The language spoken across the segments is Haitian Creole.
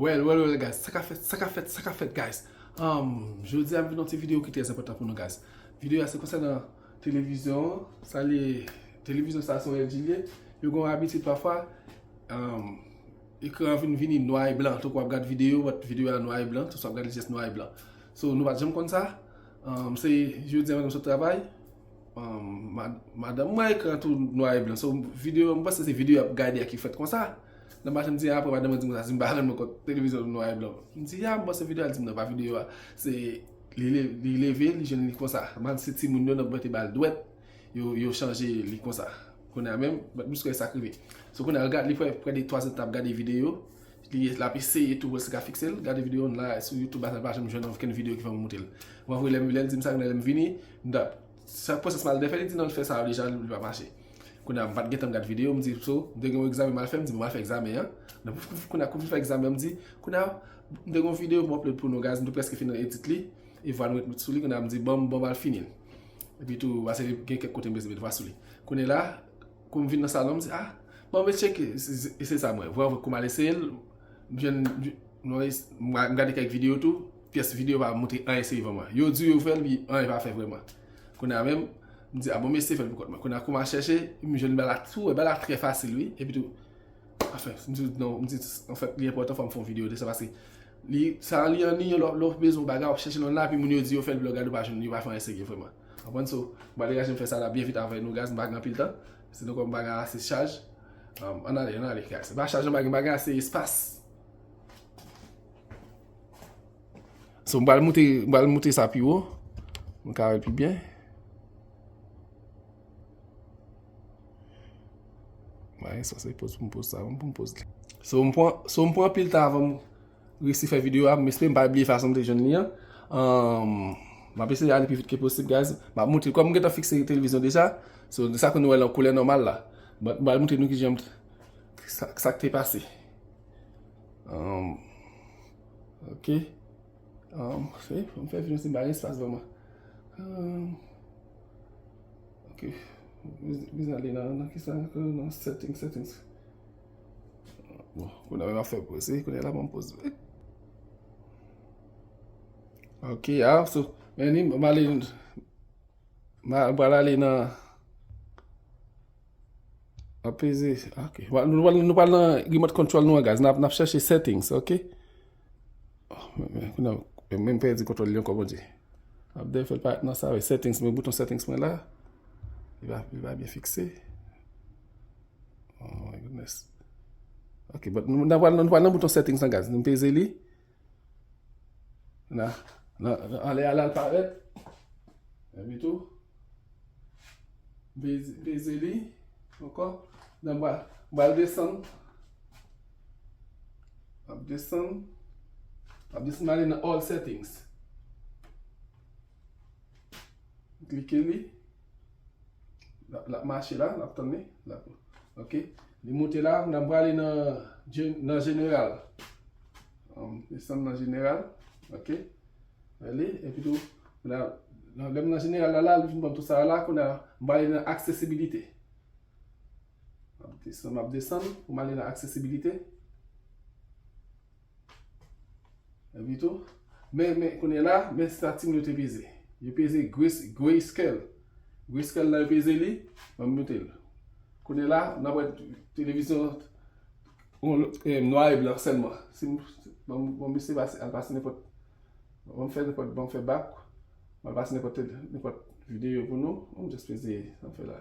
Well well well guys, sa ka fèt, sa ka fèt, sa ka fèt guys Jodi a m vin yon ti video ki trèz enpòtan pou nou guys Video a se konsènan televizyon an, sa li ye, televizyon sa se yon LG li ye Yo gen yon abitid pafwa, ekran an vin vini nwa e blan, tankou w ap gad video, wè video a nwa e blan, tankou w ap gad li jis nwa e blan So nou pa t janm konn sa Se jodi an m sot travay. Madanm mwen ekran tou nwa e blan. So videyo m panse se videyo y ap gade a ki fèt konsa. Nan machin m di apre madanm mwen di m konsa si m pa rann mwen kont televizyon tou nwa e blan. M di a m panse videyo a l di m nan pa videyo a. Se li leve li jwenn li konsa. Mal se timoun yo nan bwè te ba l dwèt. Yo chanje li konsa. Kounye a menm m pa t bliske sa k rive. So kounye a li prè de 3 zèdtan ap gade videyo. Li ye lap eseye tou wèl se ka fiksel gade video an la sou YouTube asa li pa janm jwenn anvkenn video ki fè mwen moutel mwen voye lèm lèl dim sa kounya lèm vini mtap sa pwosès mal defè li di nan li fè sa yo deja li pa mache kounya mpat gentan gad video mdi so mte gen yon egzamen mal fè mdi bon mal fè egzamen an nan pouf pouf kounya kou fin fè egzamen an mdi kounya mte gen yon video pou upload pou nou guys mte preske fin edit li e vwa nou ret met sou li kounya mdi banm banm al finil epi tou ase gen kèk kote mbezwen met vwa sou li kounye la. Koum vin nan salon m di ah bon mwen tcheke e se sa m wè vwa vwa koum al eseye l m jwenn m gade kèk video tou pyès video pa montre anyen sèvo mwen yo di yo fèl pi anyen pa fè vrèman kounye a menm m di ah bon m eseye fèl pou kont mwen kounye a koum al chèche m jwenn bagay la tou bagay la trè fasil wi epi tou anfen m di non m di anfèt li enpòtan fòm fon video de sa paske li sa li anniye lè w bezwen yon bagay w ap chèche nan nan epi moun yo di yo fèl epi lè w gade w pa jwenn li yo pa fè anyen serye vrèman. Konprann so, m pral degaje m fè sa la byen vit avè nou guys m pa gen anpil tan, si nou kwè m pa gen ase chaj Ann ale, ann ale guys, se pa chaj m pa gen, m pa gen ase espas So m pral moute, m pral moute sa pi wo, m ka wè pi byen Mwen se poz pou m poz sa, m pou m poz li So m pran, so m pran anpil tan avè m. Resi fè video a, m espere m pa bliye fason m te jwenn li an. M ap eseye ale pi vit ke posib guys. M ap moutre, kòm m gentan fikse televizyon deja, so sa ke nou wè lan koulè nòmal la. But m pral moutre nou kijan m t, sa k te pase. Ok. Fè, fò m fè videon se m pa gen espas vreman. Ok. Mwen bezwen ale nan, nan kisa ankò, nan settings, settings. Bon, kounè mwen ap fè poze, kounè la mwen poze. Ok, a, sou, men ni mwen ale, mwen pral ale nan, apese, ok, nou pral nan remote control nou an guys, nan ap chèche settings, ok. Kounè, mwen mwen pèdi kontrol yon kòman di. Ap de fèl pa nan sa, settings, mwen bouton settings mwen la, li va, li va byen fikse. Ok, but nou nan pwal nan bouton settings nan guys. Nou peze li. Na, na, na, ale ala al paret. E mi tou. Peze, peze li. Oko. Nan pwal, pwal desan. Ap desan. Ap desan nan ale nan all settings. Klike li. Lap mache la, lap tann li. Ok, li moute la, nan prale nan jeneral. An, desann nan jeneral. Ok, ale, epi tou, nan lèm nan jeneral la la, li vin banm tout sa la, kounè a, m prale nan aksesibilite. Map desann, map desann, pou m ale nan aksesibilite. Epi tou, men, men, kounye la, men sa timoun yo te peze. Yo peze Grace, Grayscale. Grayscale la yo peze li, banm mute l. Kounye la, n ap wè televizyon on e nwa e blan sèlman. Si m, banm, banm misye pase, al pase nenpòt, banm fè nenpòt, banm fè bak, al pase nenpòt, nenpòt videyo pou nou. Banm just peze sa m fè la.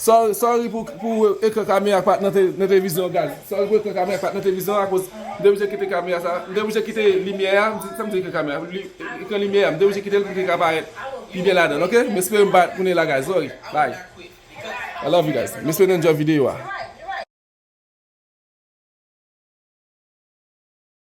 Sorry pou ekran kamera pat nan televizyon an gad. Sorry pou ekran kamera pat nan televizyon an akoz m te oblije kite kamera sa, m te oblije kite limyè a, sa m di ekran kamera, ekran limyè a m te oblije kite l pou li te ka parèt pi byen ladan l ok, m espere m pa tounen la guys sorry bye I love you guys m espere nou enjoy video a.